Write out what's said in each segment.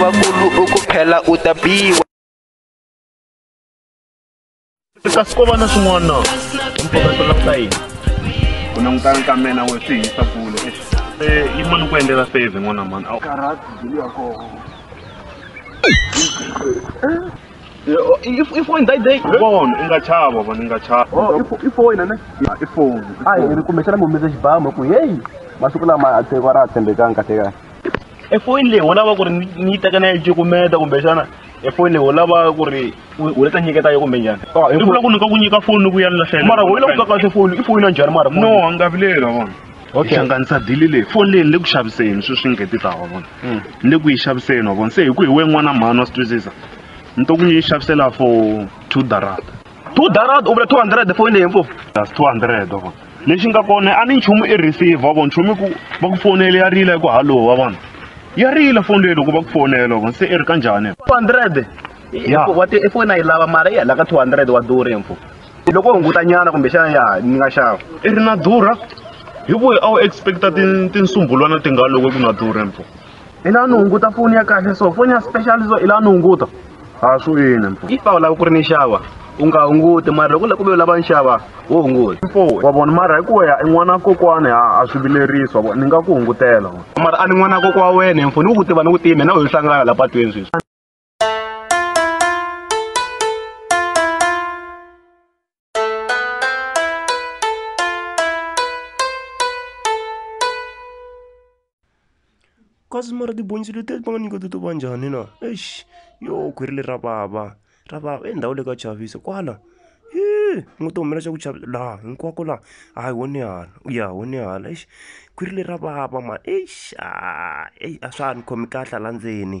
vakulu u ku phela u ta biwa kasi ko va na swin'wana na mpfaka swi languta yini ku langutana ka mina we swi hisa kule eh, yi mani ku endlela fave n'wana mani karati bilu ya koho ifoni dai dai bon i nga chava vona i nga chava oh, ifoni ne ifoni a hi ri kumbexana mi humese xibamu ku heyi masiku lama a tsheko ra ha tshembekanga kahle kahle e foyini leyi u lava ku ri ni yi teka ni ya yi cukumeta kumbexana e foyini leyi u lava ku ri u le ta nyiketa yo kumbe njhani i vula ku ni ka ku nyika foni ni ku ya ni lahlela mara u yi lava ku ka kahle foni i foni ya njhani mara no a nga vileli wa vona okay hlanganisa dili leyi foni leyi ni le ku xaviseni sweswi ni ngheti ta wa vona ni le ku yi xaviseni wa vona se hi ku hi we n'wana mhani wa swi twisisa ni to ku ni yi xavisela for two darata two darad u vula two hundred foni leyi mpo that's two hundred wa vona lexi nga kona a ni nchumu i receive wa vona nchumu ku va ku fonele ya rila ku hallo wa vona ya rila foni leyi loko va ku fonela wa vona se i ri ka njhani two hundred Ya. wa ti ifoni a yi lava mara yi halaka two hundred wa duri mpo loko hunguta nyana kumbexana ya ni nga xava i ri na durha hi ku a wu expecta tin- tinsumbulwana ti nga loko ku na durha mpo i la ni hunguta foni ya kahle so foni ya special so i la ni hunguta a swi yini mfo if a wu lava ku ri ni xava u nga hunguti mara loko la ku ve u lava ni xava wo hunguta mfo wa vona mara hi ku ya i n'wana kokwani a a swi vilerisi wa vona ni nga ku hungutela mara a ni n'wana kokwa wena mfo ni ku tiva ni ku tima na wehe hlangana la patwini sweswi kasi mara tibonisi leti va nga nyika ti to va njhani na eish yo khwiri leri ra vava ra vava i ndhawu le ka chavisa kwala hi u nga ti humela xa ku chavisa laha hinkwako laha hayi wo ni hala u ya wo ni hala eish khwiri leri ra vava mani eish a swa ha ni khomi kahle hala ndzeni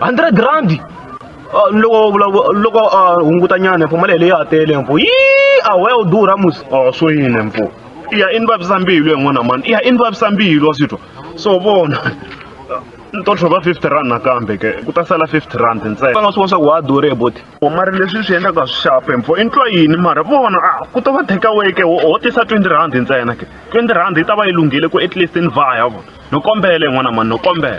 100 rand Ah, loko vula- loko a hunguta nyana mpo mali yeleyo a tele mpo yi a why u durha musi a swo yini mpo i ya i ni vavisa mbilu yin'wana mani i ya i ni vavisa mbilu wa swi twa so vona ni to tlhova 50 rand nakambe ke ku ta sala 50 rand ntsena va nga swi vona swa ku wa durhe boti mara leswi swi endlaka swi xape mpo i ntwa yini mara vona a ku to va takeaway ke ho ho tisa 20 rand ntsena ke 20 rand yi ta va yi lunghile ku at least ni vaya vona no kombele n'wana mani no kombela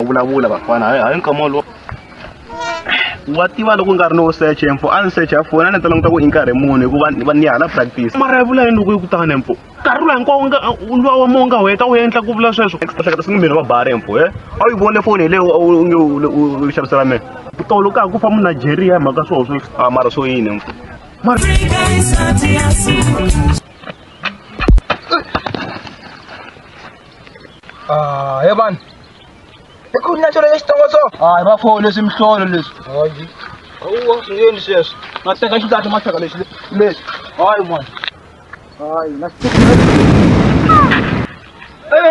u vulavula vafana hayi hayi nkama wolowo wa tiva loko nga ri no search empfo a ni search ya foni a ni ta languta ku i nkarhi muni hikuva va ni hala practice mara ya vula yini loko yi ku tani empfo nkarhi lowu hinkwawo nga luwa wa mo nga heta u endla ku vula sweswo ehleketa swi ngi miri va bari empfo e a wu yi vone foni hi leyo u nge u xavisela mina tolo ka ha ku fa munigeria hi mhaka swoho sweswi a mara swo yini empfo mara Ah, he vanhu. I ku na xona xitongo so. Ah, hi va foni leswi mihlolo leswi. Hayi. Awuwa swi yini sweswi? Ma teka xidata ma teka lexi lexi. Hayi mwana. Hayi, na swi Eh.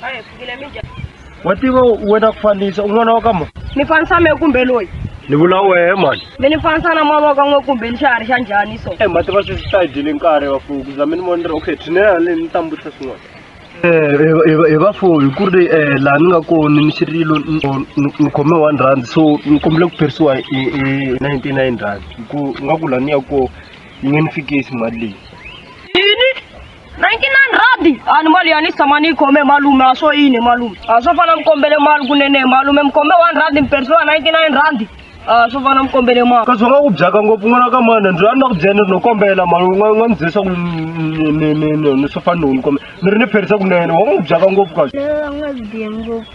Hayi, fikile mi njhani? wa tiva wena ku fanisa un'wana wa ka mo Ni fanisa me kumbe loyi? ni vula wehe mani Mi ni fanisa na mavoko n'we kumbe ni xiharhi xa njhani so? e mati va sweswi ta hi dyele nkarhi vafuwi ku za mi ni vonera okay tshinela le ni ta mbutisa swin'wana hi vafuwi hi ku ri um laha ni nga kona ni xirilo ni khome one rand so ni kombele ku phirisiwa hi ninety nine rand hi ku nga ku laha ni ya kona yi nge ni fikisi mali leyi 99 radi ani mali yani samani kombe malume aso ine malume aso fana mkombele malu kunene malume mkombe 1 radi mperso 99 radi aso fana mkombele malu kazwaka ku byaka ngopfu n'wana ka mani ndzi rhandza ku byana no kombela mali u nga nga ndzi byisa ku ni- ni- ni- ni- ni swo fana no ni kombela ni ri ni pherisa kunene wa n'wi byaka ngopfu kahle Lelo nga biye ngopfu.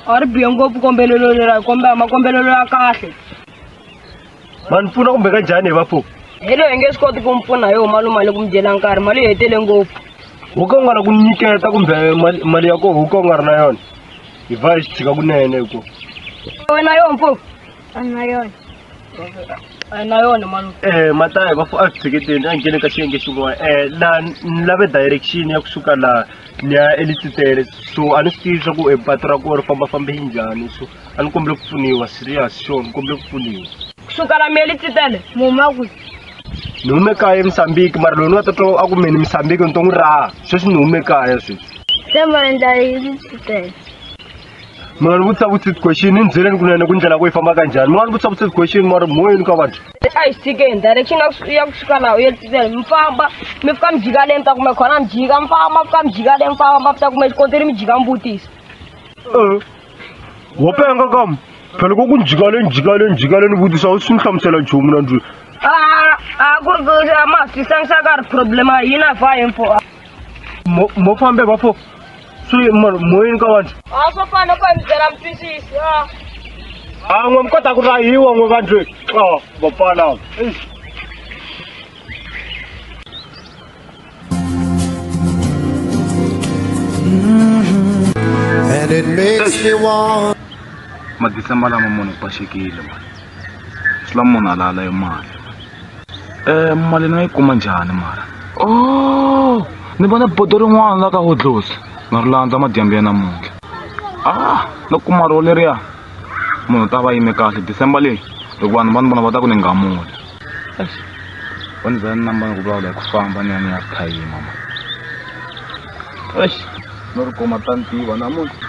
ari biye ngopfu kombelelo lera kombela makombelelo ya kahle ma ni pfuna kumbe ka njhani hi vapfuki helo hi nge swi koti ku mi pfuna hi huma lomali ku mi dyela nkarhi mali yi hetele ngopfu wo ka u nga ri ku mi nyiketa kumbe mali- mali ya koho wo ka u nga ri na yona hi va hi swi tshika kunene hikuva wena yona mfuku a ni na yona a yi na yona mali Eh, matayi va a swi tsheketeni a nghene ka xiyenge xin'wana eh la ni lave direction ya kusuka la ni ya elititele so a ni swi tivi swa ku eh, patu ra kona ri fambafambe yi njhani so a ni kombele ku pfuniwa serious sure ni kombele ku pfuniwa kusuka la meli titele muma kwi ni hume kaya emisambiki mara loyi ni nga ta twa a ku meni misambiki ni to n'wi raha sweswi ni hume kaya sweswi se ma endla yini titele mi nga ni vutisa vutisa question ni byeleni kunene ku ndlela ku yi famba ka njhani mi nga ni vutisa vutisa question mara moyeni ka vanhu a yi sikeni direction ya kus- ya kusuka la yeli titele mi famba mi fika mi jika le mi ta kume khona mi jika mi famba mi fika mi jika le mi famba mi ta kume xikontiri mi jika mi vutisa Eh, wo penga kam phela ko ku njikale njikale njikale ni vutisa u swi ni hlamusela nchumu na ndlwini Ah, ah, ku ri ku a ma swi hlangisa ka ri problem a yina fa info a Mo- mo fambe bafo swi mo- moyini ka vanhu a swo fana ku endzela mutwisisi a a n'we mi kota ku rahiwa n'we vandlwini a vapfana eish And it makes me want madecemba lama munhu ku paxekile mali swi lama munhu alala hi mali um mali ni nga yi kuma njhani mara o ni vona bodo rin'wana la ka hodlosi na ri landza madyambu ya namuntlha a no kuma ro leriya munhu u ta va yime kahle decemba leyi loko vanhu va ni vona va ta ku ni ngamula Eish. Foni za ni namba ku vula ku famba ni ya ni ya phayima ma. Eish. No ri kuma ta ni tiva namuntlha.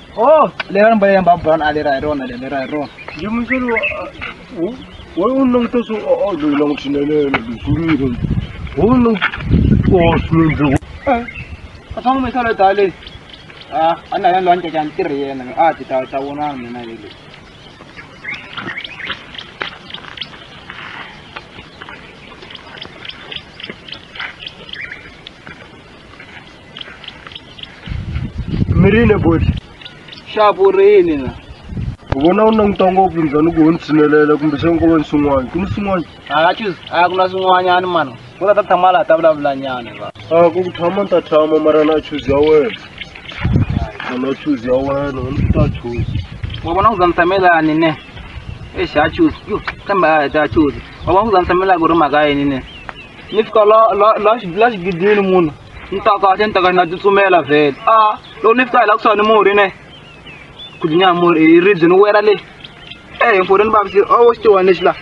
Oh, leran ba yan ba bran ale ra ron ale ra ron. Jum sulu wo wo nong to su o o lu nong tin le le du su ni ron. Wo nong o su ni du. Ka tong me sala ta le. Ah, ana yan lon ta kan tir ye na. Ah, ti ta ta wo na me na ye. mirini boti xavurini la u vona u languta ngopfu njhani ku ho ni tshinelela kumbe xana ko va ni swin'wana ku ni swin'wana a chuz a ku na swin'wanyani mani ku ta ta tshama laha ta vulavulanyana va a ku ku tshama ni ta tshama mara na chuzi ya wena a na chuzi ya wena ni ta chuzi wa vona ku za ni tshamelani ne exi a chuz yo kambe a hi ta chuz wa vona ku za ni tshamela ku ri mhaka yini ne ni fika la la la xi- la xigidini munhu ni ta kahle ni ta ka ni na tsutsumela vhele a loko ni fika hi laha kusuhani murhi ne ku dlinya murhi hi ribye ni wela le e hinkwuri ni vavise o xitiwani lexi laha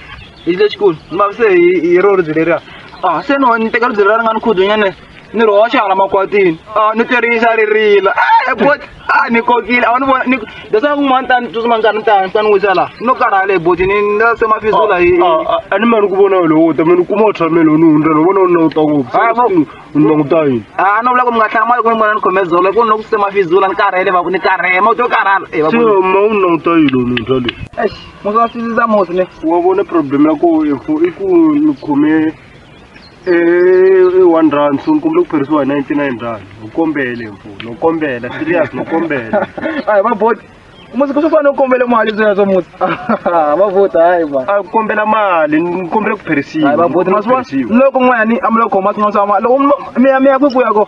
lexi lexikulu ni vavise hi hi ro ribye leriya a se no ni teka ribye leriya ri nga ni khudunyane ni ri hoxa hala makwatini a ni tirhisa ri rila e bot a ni kokile a wu ni vona ni leswaku un'wana tani tsutsuma nkarhi ni ta ni ta ni wisa laha no karhala hi boti ni ni la se mafisula hi a ni mani ku vona wena wo ta mani kuma u tshamela u ni hundza ni vona u na u ta ngopfu Ah, bo- u na ku ta yini a no vula ku mi nga hlamali ku ni vona ni khome zolo ku ni loko se mafizula ni karhele va ku ni karhele ma u to karhala e va se ku ma u na ku ta yini u ni hundza leyi eish musa wa sisisa mosi ne wa vona problem ya ko info i ku ni khome i one rand so ni kombela ku phirisiwa hi ninety nine rand u kombele mfo no kombela serious no kombela hayi va bot musi ku swi fanele u kombele mali byi yazo musi va bot hayi va a ku kombela mali ni kombela ku phirisiwa hayi va bot ma swi vona loko n'wanyani a mi lo khoma swin'wana swa mali loko mi ya mi ya kwi ku ya ko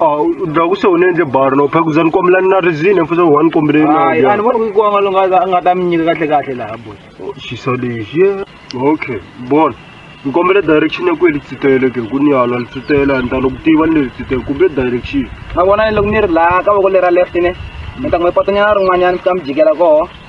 awu ndaku se unenze bar no phela kuzani kwami lani narizine mfuthu one kombeleni hayi andibona kuyikwanga lo nga- nga ta mi nyika kahle kahle laha boy xisa lexi ye okay bona ni kombela direction ya ku yi litsitele ke ku ni hala litsitele a ni ta loko tiva ni le litsitele kumbe direction ma vona ni loko ni ri laha ka voko lera left ne ni ta n'wi patonyana rin'wanyana mi ta mi jikela koho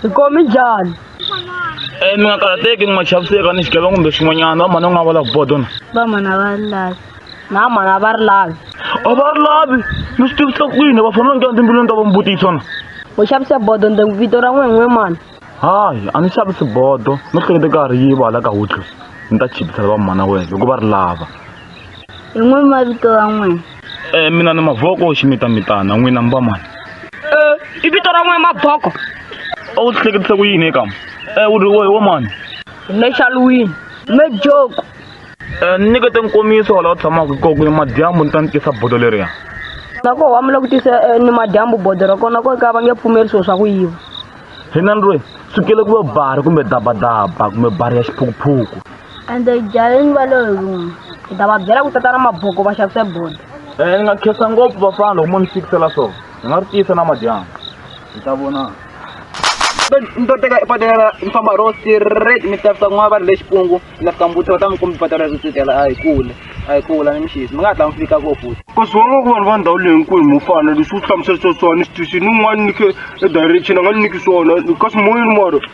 Swi komi njhani? Eh mi nga karhateki mi nga chaviseka ni xigevenga kumbe swin'wanyana vamhana u nga va lava bodona. Vamhana va ri lavi. Na vamhana va ri lavi. A va ri lavi mi swi tivisa ku yini va fanele va nghena timbilwini ta va mi vutisa na. U xavise bodo ndzi vito ra n'we n'we mani. Hayi a ni xavisi bodo no hlekete ka ha ri yiva hala ka hudlus ni ta chipisa vamhana wena hikuva ri lava. Hi n'we mavito ya n'wina. Eh, mina ni mavoko ximitamitana n'wina mi va mani i vito ra n'we maboko a wu hleketise ku yini ekama um u ri wohi wa mani nexaluwini mejoko um ni nyikete nkomiso wa laha u tshamaka hi koko madyambu ni ta ni tisa bodo leriya nako wa mi la ku tisa eh, ni madyambu bodo ra kona ko ka va nge pfumeli swilo swa ku yiva hina ni ri sukele ku va bari kumbe dabadaba kumbe bari ya xiphukuphuku ende jayeni va lo hi ruma hi ta va byela ku tata na maboko va xavise bodo um eh, ni nga khensa ngopfu vafana loko mo ni fikisela swona ni nga ri tiyisa na madyambu hi ta vona ni to teka patela ni famba ro straight mi ta fika kun'wana va ri le xipungu ni ta fika mbuti va ta mi kumbi patela ri tsutela a hi kule a hi kula ni mixisi mi nga hatla mi fika ko futhi ku swona ku vanhu va ndhawu leyi hinkulu mo fana leswi u hlamusela swa swona ni swi twisini un'wana ni khe e direction a nga ni niki swona kasi moyeni moro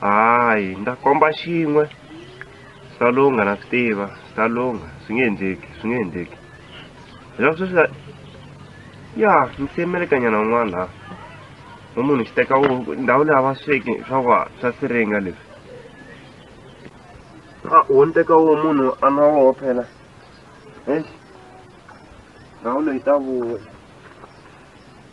hayi ni ta komba xin'we salunga na swi tiva salunga swi nge endleki swi nge endleki hileswaku sweswi la- ya ni semelekanyana un'wana laha no munhu xi teka wu- ndhawu leyi a va sweki swa wa swa siringa leswi a wo ni teka wo munhu a nwa woho phela eish ndhawu leyi ta vuya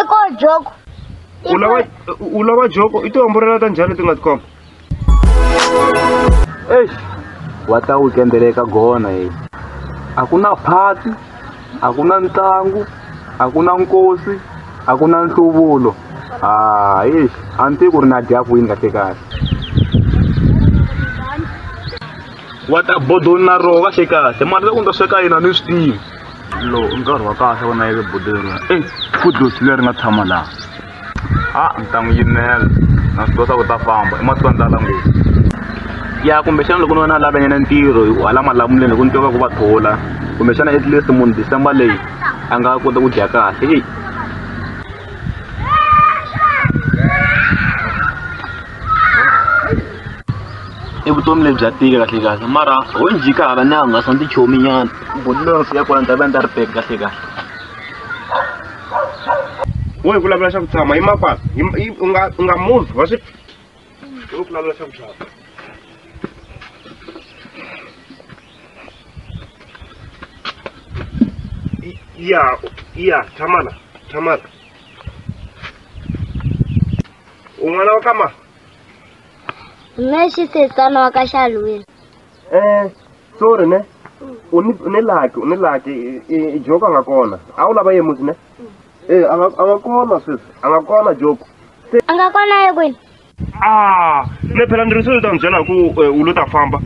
i ko joko u lava u lava joko i tihomborela ta njhani leti nga tikhoma eyi wa ta wikendele eka gona yi a ku na phati a ku na ntlangu a ku na nkosi a ku na nhluvulo hayi a ni tivi ku ri na dya kwini kahle kahle wa ta bodoni na roho kahle kahle mali leyi u ni ta sweka yina ni swi tivi lowu i nkarhi wa kahle wa nayeke buti leriya eyi fudusi leri nga tshama laha a ni ta n'wi yimela na swi kosa ku ta famba i masiku a ndlala ngopfu ya kumbexana loko ni wena a lava nyana ntirho hi ku hala malamuleni loko ni twa va ku va thola kumbexana at least munhu december leyi a nga kota ku dya kahle eyi i vutomi lebyi bya tika kahle kahle mara ho njika hala ni hangasa ni tichomi nyana buti loyi fika kona ni ta va ni ta ri peki kahle kahle wo hi vulavula xa ku tshama yi makwalo u nga u nga muvi wa swi wo vulavula xa ku tshama ya ya tshamana tshamana un'wana wa kama mme xisetsana wa ka xalwini um sorry ne u ni u ni laki u ni laki i- i- i joko a nga kona a wu lava ye musi ne e a nga a nga kona sweswi a nga kona joko a nga kona ye kwini a ni phela ni ri swi ta n'wi byela hi ku eh, u lo ta famba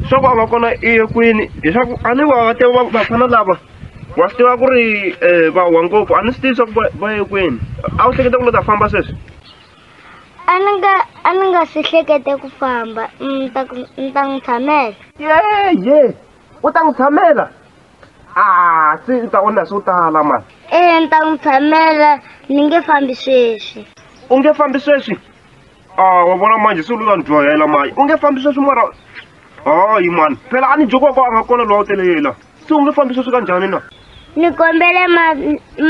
swaku a nga kona iye kwini leswaku a ni wa te va- vafana lava wa swi tiva ku ri um va wa ngopfu a ni swi tivi swaku va- va ye kwini a wu hleketa ku lo ta famba sweswi a ni nga a ni nga si hlekete ku famba ni ta ku- ni ta n'wi tshamela yeye u ta n'wi tshamela a se u ta onha swo tala mani ee ni ta n'wi tshamela ni nge fambi sweswi u nge fambi sweswi a wa vona manje se u lula ni dyohela manje u nge fambi sweswi mara hayi mani phela a ni jokwako a nga kona lowa u telelela se u nge fambi sweswi ka njhani na ni kombele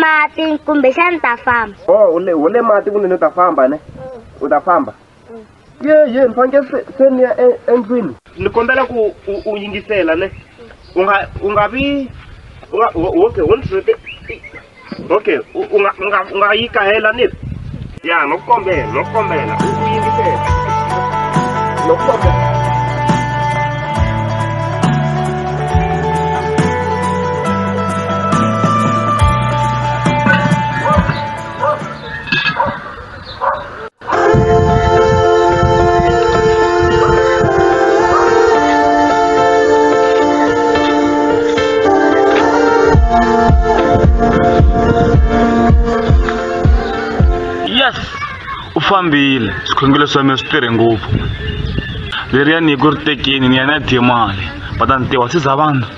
mati kumbexani ta famba o oh, ule ule mati ku ni ni ta famba ne u ta famba ye ye ni faneke se se ni ya e, endlwini ni kombela ku u yingisela ne u nga u nga vi u nga okay wo ni okay u u nga u nga u nga yi kahela ni ya no kombela no kombela u u yingisela no kombela yes u fambile swikhongelo swa mina swi tirhe ngopfu leriya nyiko ri tekeni ni ya ni ya dye mali va ta ni tiva se za vanhu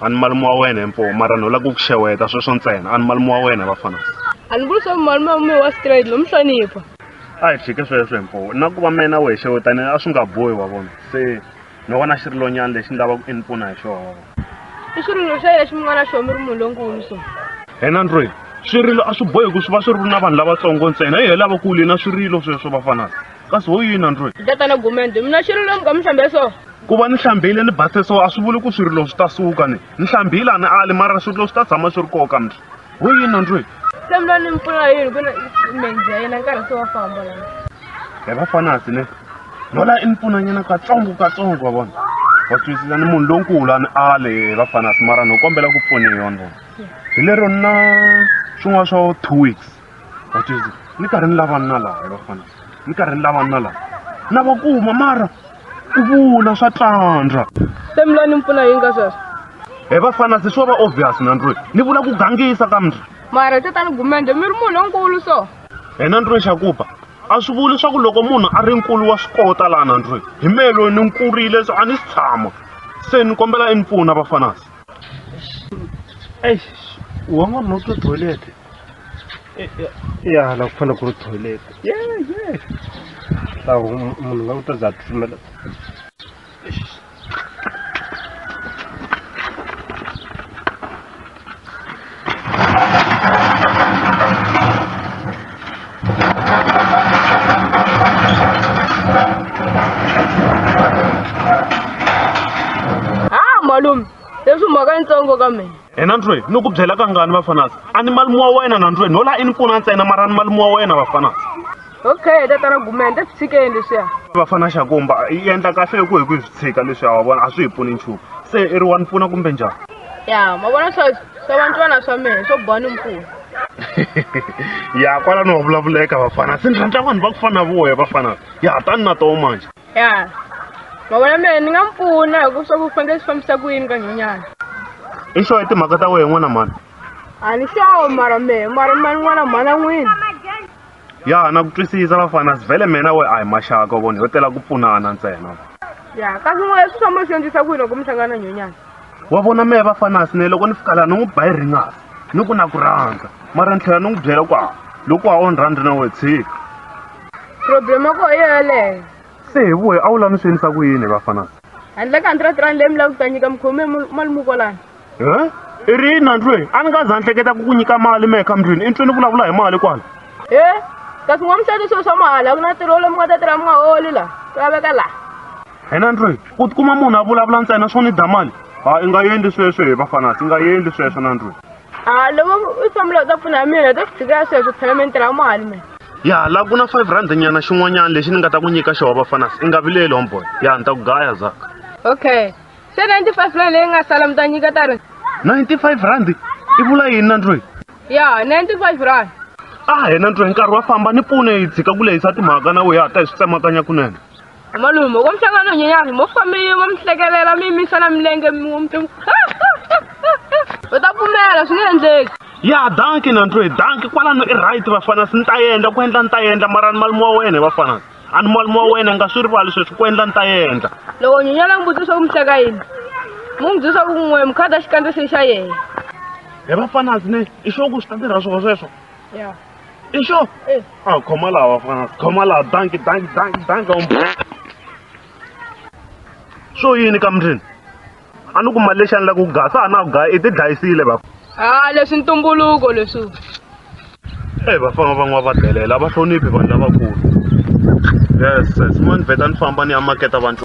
a ni malume wa wena himpo mara ni lava ku ku xeweta sweswo ntsena a ni malume wa wena vafana a ni vuli swa ku malume wa mina wa straight lo mi hlonipha a hi tshike sweswo himpo na ku va mina we xewetani a swi nga bohi wa vona se no vona xi ri lonyana lexi ni lava ku i ni pfuna hi xona i swirilo swa yena xi mi nga na xona mi ri munhu lonkulu so hena ndlwini swirilo a swi bohi ku swi va swi ri na vanhu lavatsongo ntsena hi hi lavakulu yina swirilo sweswo vafanana kasi ho yini androy tatana gumende mina xirilo lomu ka mi hlambe so ku va ni hlambile ni base so a swi vuli ku swirilo swi ta suka ni ni hlambile a ni ali mara swirilo swi ta tshama swi ri koka mi ho yini androy se mi la ni mi pfuna yini ku menzi ya yena nkarhi se wa famba lana hi va fanasi ne lola i ni pfunanyana katsongo katsongo wa vona wa twisisa ni munhu lonkulu a ni ale hi va fanasi mara ni kombela ku pfuniwa ni vona hi lero ni na swin'wana swo two weeks vatswezi ni karhi ni lavani na laha vafana ni karhi ni lavani na laha na va kuma mara ku vula swa tlandla se mi la ni mpfuna yi nga sweswo he vafana se swo va obvious nandroyi ni vula ku gangisa ka mndri mara tatani gumende mi ri munhu lonkulu so he nandroyi xakuba a swi vuli leswaku loko munhu a ri nkulu wa swi kota laha nandroyi hi mehe loyi ni nkurile so a ni si tshama se ni kombela i ni pfuna vafanasi eish u wan'wanuna u twe toilet Eh, eh, ya la ku fanele ku ri toilet ye ye la ku mu- munhu nga ku ta za a titimela Ah, malume, leswi mhaka yitsongo ka mina. hina ni twe ni ku byela kangani vafanasi a ni malume wa wena na ni twe no laha i ni pfuna ntsena mara ni malume wa wena vafanasi okay tatana gumende swi tshikeni leswiya vafana xakomba yi endla kahle ku hi ku hi swi tshika leswiya wa vona a swi hi pfuni nchumu se i ri wa ni pfuna kumbe njhani ya ma vona swa swa vantwana swa mehe swo boha ni mpfuna ya kwalano wa vulavuleka vafana se ni rhandza vanhu va ku fana na voya vafana ya tani na toho manje ya mavona mehe ni nga mi pfuna hi ku swa ku fanele swi fambisa ku yini ka nhonyana i xo hi timhaka ta wehe n'wana mhani a ni xawo mara mehe mara mani n'wana mhana n'wini ya na ku twisisa vafana sivhele mina we a hi maxaka vona yo tela ku pfunana ntsena ya kasi n'wana swi swa mo swi endlisa ku yini loko mi hlangana nhonyana wa vona mehe vafanasi ne loko ni fika laha ni n'wi ba yi ringasi ni ku na ku rhandza mara ni tlhela ni n'wi byela ku a loko a onhi rhandza na we tshika problem ya koho yo yeleyo se hi vuhe a wu lava ni swi endlisa ku yini vafanana handle ka hundred rand leyi mi lava ku ta nyika mikhome mali mukolana e i ri yini nandlwe a ni nga za ni hleketa ku ku nyika mali mehe ka mndlwini i ntwe ni vulavula hi mali kwala e kasi n'wa muxati swilo swa mahala ku na tirho lomi nga ta tirha mi nga holi laha ku laveka laha hi nandlwe ku tikuma munhu a vulavula ntsena swo ni da mali ha i nga endli sweswo hi vafanasi i nga endli sweswo nandlwe Ah, loko u fambela u ta pfuna hi mina hi ta swi tshikela sweswo phela mi ni tirha mali mina ya la ku na five rand nyana xin'wanyana lexi ni nga ta ku nyika xona vafanas i nga vileli homeboy ya ni ta ku gaya zaka okay se ninety five rand leyi nga sala mi ta nyika ta ri ninety five rand i vula yini na ndloyi ya ninety five rand a hena ndloyi nkarhi wa famba ni pfune hi tshika ku lehisa timhaka na wehe a ta hi swi tsemakanya kunene Malume, loko mi hlangana no nyenyana, mo famba mi yima mi hlekelela mi yimisa na milenge mi mi u ta pfumela swi nge endleki. ya danki na ntwe danki kwalano i right vafana si ni ta endla ku endla ni ta endla mara ni malume wa wena vafana a ni malume wa wena nga swi rivali sweswi ku endla ni ta endla Loko nyenyana n'wi vutisa ku mi hleka yini, mu n'wi byisa ku n'we mi khada xikandza xi xa yena. he vafana sine i xo ku swi ta tirha swona sweswo Ya. i sure eh. a ah, khoma laha vafana khoma laha danki danki danki danki um swo yini ka mundrini a ni ku mali lexi a ni lava ku gaya sa ha na ku gaya i ti dlayisile va a ah, leswi ntumbuluko leswi e eh, vafana van'wana va delela a va hloniphi vanhu lavakulu yes yes mani vheta ni famba ni ya maketa vanhu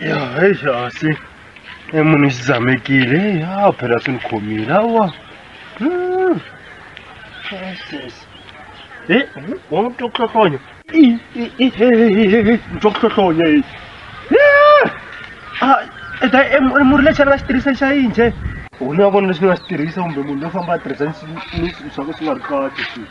ya heyi hansi e munhu i xidzamekile ya phela swi ni khomile awa e wa n'wi twa ku hlohlonya ni twa ku hlohlonya e ta e murhi lexi a nga xi tirhisa xa yini xe u ni ya vona lexi ni nga xi tirhisa kumbe munhu loyi famba a tirhisa ni swilo swa ku swi nga ri kahle swilo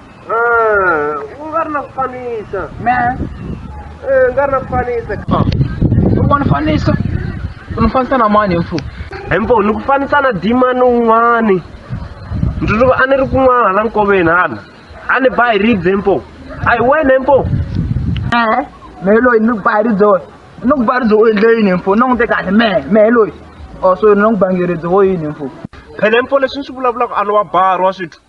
u nga ri na ku fanisa me u nga ri na ku fanisa u nga ni fanisa u ni fanisa na mani mfu hi mpo ni ku fanisa na dimani un'wani ndzi loko a ni ri kun'wana la nkoveni hala a ni ba hi ribye mpo a hi wena mpo e-e mehe loyi ni ku ba hi ribye wena ni ku ba ribye u endle yini mfu ni n'wite kahle mehe mehe loyi o so ni n'wi bange ribye wo yini mfu phele mpo leswi ni swi vulavulaka a lowa bari wa swithu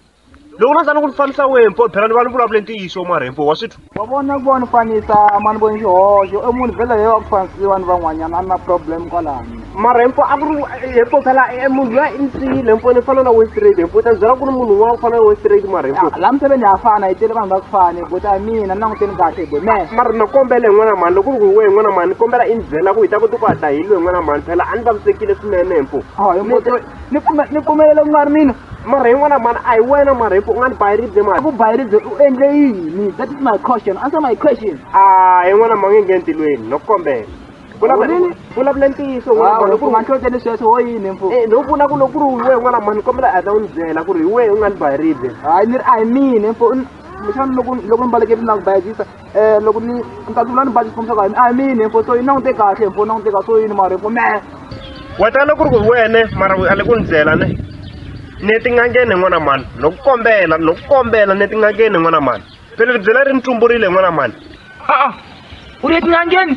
loko na za ni ku ni fanisa wehe mpo phela ni va ni vulavule ntiyiso marhempo wa swi twa wa vona ku va ni fanisa mani voni xihoxo i munhu vhele leyi wa ku fanisiwa ni van'wanyana a ni na problem kwalani marhempo a ku ri hempo phela e munhu loyi i ni siyile hempo ni fana na westrade hempo ta byela ku ri munhu un'wana ku fana na westrade marhempo Ah, laha miseveni ha fana hi tele vanhu va ku fani but a mina ni languteni kahle bo me mara na kombela hi n'wana mani loko ku ri wehe n'wana mani ni kombela i ni byela ku hi ta kota ku hatla hi lwe n'wana mani phela a ni vavisekile swinene hempo awa hi Ni- mutwe ni pfumela ni pfumelela ku nga ri mina mara hi n'wana mhani a hi wena mara hi ku u nga ni bayi ribye mani ku bayi ribye u endle yini that is my question answer my question a hi n'wana ma nge nge ntilweni no kombela Vulavula- vulavula ntiyiso n'wana mhani ku ri manhloteni sweswo wo yini mfu Eh, no vula ku loko ku ri hi wehe n'wana mhani kombela a ta u ni byela ku ri hi wehe u nga ni bayi ribye hayi ni ri a hi mina mfu xana loko loko ni balekele na ku bayizisa Eh, loko ni ni ta tula ni baji xikomisa ka a mini info so yi langute kahle info langute ka so yini mara info me weta loko ri ku wene mara a le ku ni byela ne ni tin'angeni n'wana mani loko kombela loko kombela ni tin'angeni n'wana mani pele ri byela ri ni tumburile n'wana mani a u ri etin'angeni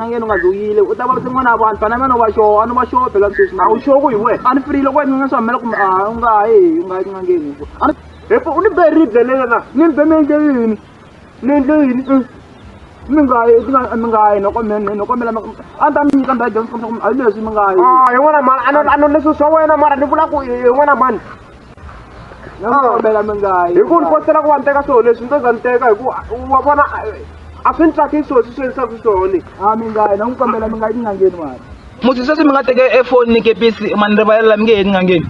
nangeni u nga zoyile u ta va tin'wana ya vanhu fana mena u va xoho a ni va xoho phela sweswi a wu xoho ku hi wehe a ni firile ku wena nga swi hamela kumbe a u nga ha yi u nga yi tin'angeni ku a ni hepo u ni be ribye leri na ni ni be mi endle yini ni endle yini Mm. mi nga yi ti nga- mi nga yi noko mi ni noko mi lama a ni ta mi nyika ndhawu dyondzo kumbe a yi leswi mi nga yi Ah, hi n'wana mhani a no- a no leswi swa wena mara ni vula ku hi n'wana mhani nakombela mi nga yi hi ku ni kotela ku va ni teka swilo leswi ni to za ni teka hi ku wa vona a swi ni tsakisi swilo swi swi endlisaka swona a mi nga yi na n'wi kombela mi nga yi tin'angeni mani musi sweswi mi nga teke efoni ni kepisi mani rivalela mi nge he tin'angeni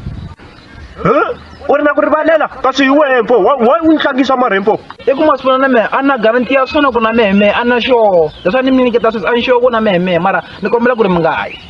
u ri na ku rivalela kasi hi wehe mpo wa u ni tlangisa marhempo i ku masipona na mehe a na garanti ya swona ku na mehe mehe a na xoho leswaku ni mi nyiketa sweswi a ni xoho ku na mehe mehe mara ni kombela ku ri mi nga yi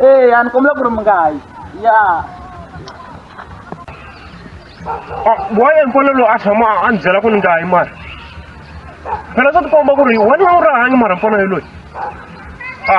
Eh, ya ni kombela ku ri mi nga yi ya waye nkolo lowu a tshama a ni byela ku ni nga yi mara phela swa tikomba ku ri wena a wu rahangi mara mpfana yi loyi a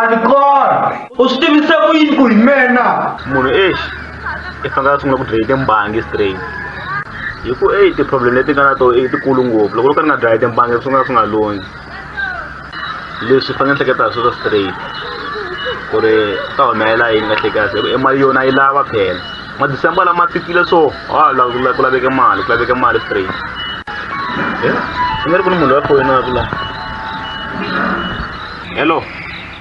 andikona u swi tivise ku yini ku hi mina munhu ex i fanekele a sungula ku dlaya timbangi straight hi ku e ti-problem leti nga na to i tikulu ngopfu loko loko ni nga dlaya timbangi swi nga swi nga loni leswi i fanele hleketa hi sweswo straight ku ri ta humelela yini kahle kahle hi ku i mali yona yi lava phela madecember lama fikile so ha la la ku laveka mali ku laveka mali straight eh ku nga ri ku ni munhu loyi a foyinaka la hello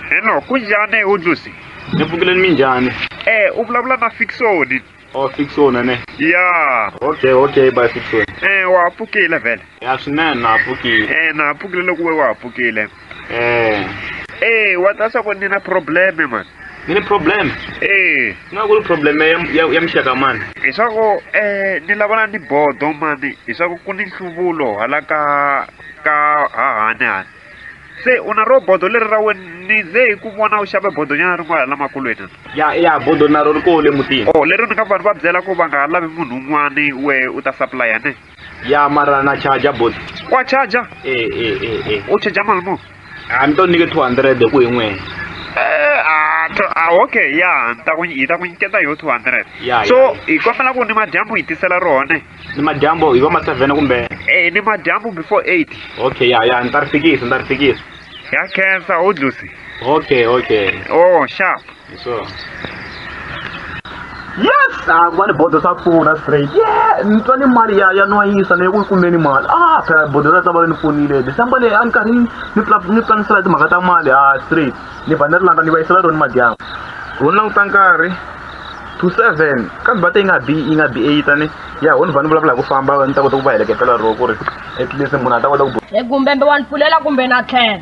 hello ku njhani udlusi ni pfukeleni minjhani eh u vulavula na fiksoni o fiksona ne ya okay okay bye fiksona eh wa ha pfukile vhele ya swinene na ha pfukile eh na ha pfukile loko we wa ha pfukile Eh. Eh, wa ta swa ku ni na problem man. Ni ni problem. Eh. Nga ku problem ya ya, ya mixaka man. Hi swa ku eh ni lavana ni bodo man. Hi swa ku ku ni nhluvulo hala ka ka hahani hani. Se una ro bodo leri ra wena ni ze hi ku vona u xave bodo nyana ri n'wana lamakulweni. Ya ya bodo na ro ri kole mutini. Oh, lero ni nga vanhu va byela ku va nga lavi munhu un'wana we u ta supply ne. ya mara na charger bot wa charger e e e e u charger mali muni a ni to nyike 200 ku hi n'wena Eh, ah, to- ah, okay ya ni ta ku hi ta ku nyiketa yo 200 Ya, so ya. hi kombela ku ni madyambu hi tisela rona ni madyambo hi va ma 7 kumbe eh ni madyambu before 8 okay ya ya ni ta ri fikisa ni ta ri fikisa ya khensa u dlusi okay okay oh sharp yes ah ku va ni bodo swa pfuna straight yeah ni twa ni mali ya ya nwayisa leyi ku yi kumeni mali ah phela bodo ra ta va ni pfunile december leyi a ni karhi ni ni pla- ni planisela timhaka ta mali ah straight ni ba ni ri landa ni va yisela roni madyambu ho languta nkarhi to seven kambe bata yi nga bi yi nga bi eight ani ya ho ni va ni vulavula hi ku famba ni ta kota ku va heleketela ro ku ri at least munhu a ta kota ku e gumbembe wa ni pfulela kumbe na tlhela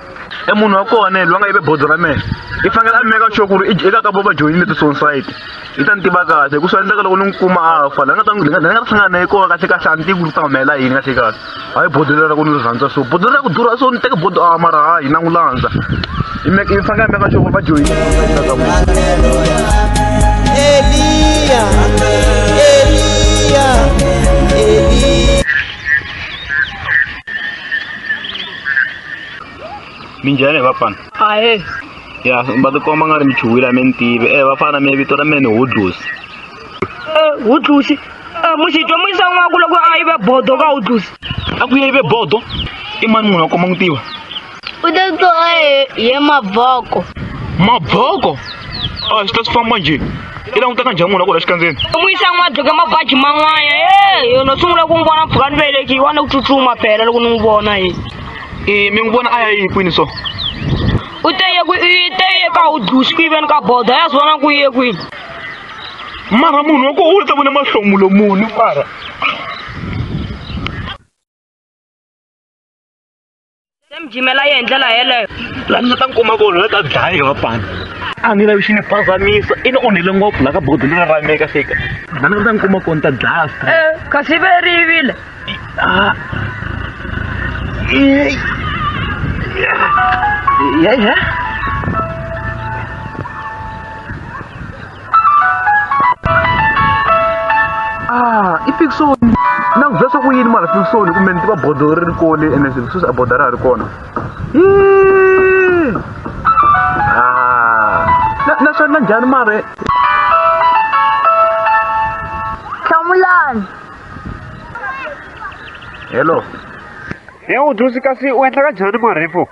e munhu wa kona yena loyi a nga yive bodo ra mehe i fanekele a meka sure ku ri eka ka vo va joyinile ti-sonsite yi ta ni tiva kahle hi ku swi endleka loko ni n'wi kuma a fa la nga ta ni nga ta hlangana na ye kona kahle kahle a ni tivi ku ri ta humelela yini kahle kahle hayi bodo lera ku ni ri rhandza so bodo lera ku durha so ni teke bodo a mara hayi na n'wi landza i fanekele a meka sure ku ri va joyinile minjhani hi vapfana ahe ya va tikomba nga ri mi chuhwile a mi ni tivi e vafana mi vito ra mina ni hudlusi hudlusi muxitwa mu yisa n'waku loko a yive bodo ka hudlusi a ku yive bodo i mani munhu a koma n'wi tiva u te to ye mavoko mavoko a xi ta swi famba njhe i langutaka njhani munhu a ku la xikandzeni n'wisa n'wadzoke mabaji man'wana e yono sungula ku n'wi vona mpfhuka ni velekiwa wa ni ku tsutsuma phela loko ni n'wi vona e e mi n'wi vona a ya yi kwini so u te ye kwi- i te ye ka u dusi ku yiveni ka bodo ya swi vona ku ye kwini mara munhu wa koho u ta vona mahlomulo muni mara se mi jimela ye hi ndlela yeleyo laha ni nga ta ni kuma kona la ta dlaya va pani a ni lavi xi ni phazamisa i ni onhele ngopfu laha ka bodo leri ra meka fika laha ni nga ta ni kuma kona ta dlaya stra e kasi ve ri yivile Yeah, yeah. ah i fiction na ku byela swa ku yini mara fiction kumbe ni tiva bodolo ri ri kole ene swilo sweswi a bodo ra ha ri kona ah. na swa na njhani mara hlamulani hello he u dusi kasi u endla ka njhani marefo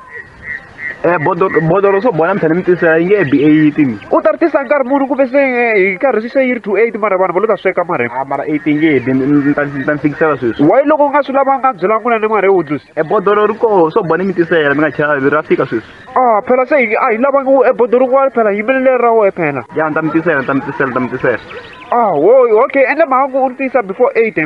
Eh, bodoro bodoro swo bola mphela mi tisa yi nge e bi eight ni u ta ri tisa nkarhi muni ku ve se eh, hi karhi swi se yi ri two eight mara vanhu va lo ta sweka mara a mara eight yi nge bi ni ni ta ni ta ni fikisela sweswi wayi loko u nga swi lavanga byela n'wina ni mara hi wudlusi e bodoro ri koho swo bola mi tisela mi nga chavi ra fika sweswi a phela se hi- a hi lavanga u- e bodoro kun'wana phela yimelele ra wehe phela ya ni ta mi tisela ni ta mi tisela ni ta mi tisela a wo okay endla mhaka ku u ri tisa before eight eh.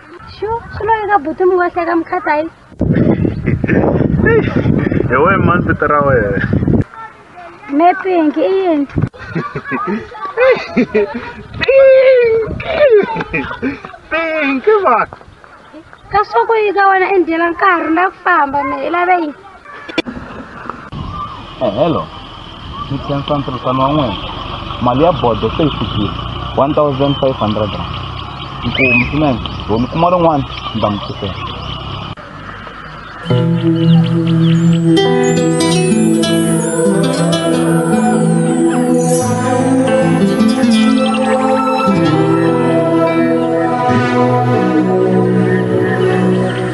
Shu, xumanga buti mi wahlaka mukhathayi. Hi we mani vito ra wena. Me pink i yini? Pink va. Ka swa ku yi ka wena i ndyela nkarhi na ku famba me i lave yini? Eh, hello ni khensa ntirhisano wa n'wina mali ya bodo se yi fikile one thousand five hundred rand nkumu swinene lo ni kuma rin'wana ni ta mi pfukela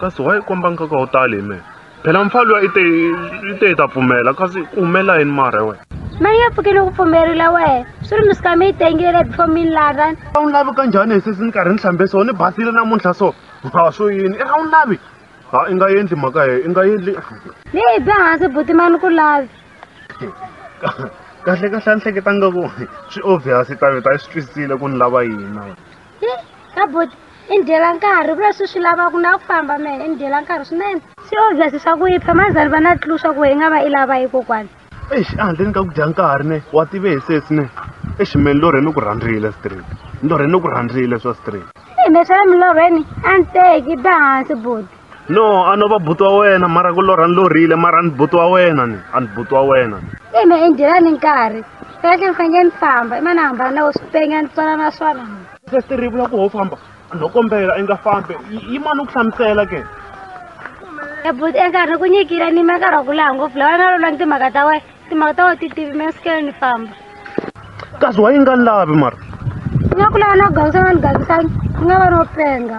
kasi why i komba nkoka wo tali hi mehe phela mfa luya i te i te i ta pfumela kasi ku humelela yini mara hi wena mani ya pfukile ku pfumerile wena swi ri misikami yi tengile before mi ni lava a wu ni lavi ka njhani hi sesi ni karhi ni hlambe so ni basile namuntlha so ha swo yini i a wu ni lavi ha i nga endli mhaka heyo i nga endli ni hi bya hansi buti mani ku lavi kahle kahle a ni hleketanga ku swi obvious taveta i swi twisisile ku ni lava yini na wena he ka boti i ndyela nkarhi vula swi swi lava ku na ku famba mehe i ndyela nkarhi swinene swi obvious swa ku yipha mazali va na tlu swa ku hi nga va i lava yi kokwana exi ehandleni ka ku dya nkarhi ne wa tive hi sesi ne eximeni lorhe ni ku rhandzile street ni lorhe ni ku rhandzile swa street hi me swa le milorhweni a ni teki ba hansi boti no a no va buti wa wena mara ku lorha ni lorhile mara a ni buti wa wena ni a ni buti wa wena ni e ma endyela ni nkarhi kahle ni fanele ni famba i ma ni hambana na wo swipenya ni tswala na swona sesite ri vula ku ho famba no kombela i nga fambi yi mani u ku hlamusela ke ebuti e enkarhi ni ku nyikile ni ma nkarhi wa ku laha ngopfu lawa na lolwa ni timhaka ta wena timhaka ta wena ti tivi mi sukele ni famba kasi wa yi nga lavi mara ni nga ku lava na ku gangisana ni gangisani ni nga va no penga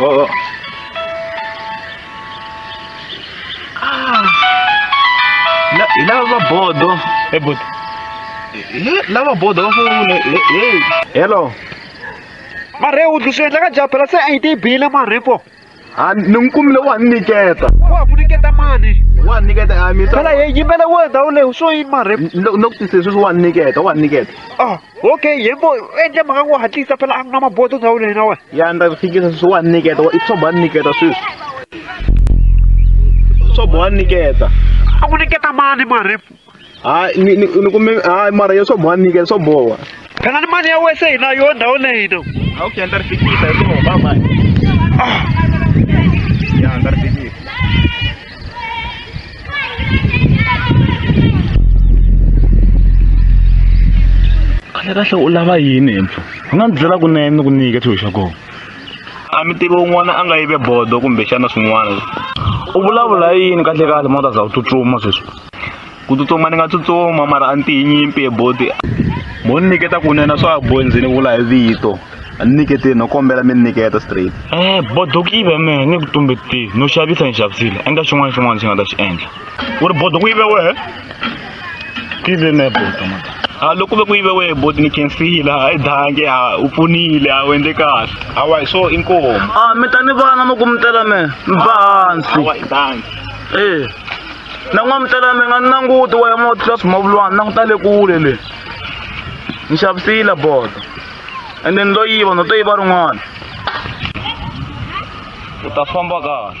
Oo. Ah. La, ilava bodo. E bodo. E, lava bodo. Hello. Mare, o do senhor, já, pela sua ID, bila, mare, pô. a ni n'wi kumile wa ni nyiketa wa ku nyiketa mani wa ni nyiketa a mi phela hi yimbela wo ndhawu leyi swo yi marhe no ku tisile sweswi wa ni nyiketa wa ni nyiketa ah okay yembo endle mhaka ku hatlisa phela a ku na mabodo ndhawu leyi na wena ya ni ta ku fikisa sweswi wa ni nyiketa i swa ba ni nyiketa sweswi swa ba wa ni nyiketa a ku nyiketa mani marhe hayi ni- ni- ni kume hayi mara yo swo boha nike swo boha kana ni mani ya wese hina yo ndhawu leyi no hawu ke andza ri fikisa hi swo baba ya andza ri fikisa kahle kahle u lava yini impfu u nga ndzi byela kunene ni ku nyike xilo xa kona a mi tivi un'wana a nga yive bodo kumbexana swin'wana u vulavula yini kahle kahle mota za u tsutsuma sweswi ku tsutsuma ni nga tsutsuma mara a ni tiyinyimpi hi boti mo ni nyiketa kunene swa ha bohi ndzi ni vula hi vito a ni nyiketeni no kombela mi ni nyiketa straight Eh, bodo ku yive mehe ni ku tumbetile no xavisa ni xavisile endla xin'wana xin'wana xi nga ta xi endla u ri bodo ku yive wehe ku yive mehe bodo ma a loko ku ve ku yive wehe boti ni khensile a yi dange a u pfunile a wu endle kahle awa hi swo inkomu a mi ta ni vana mi ku mi tela mehe mi ba hansi awa hi dange ee na n'wamutala mi nga ni languti wa ya mo tlula swimavulwana languta le kule le ni xavisile bodo ende ni lo yiva no to yiva rin'wana u ta famba kahle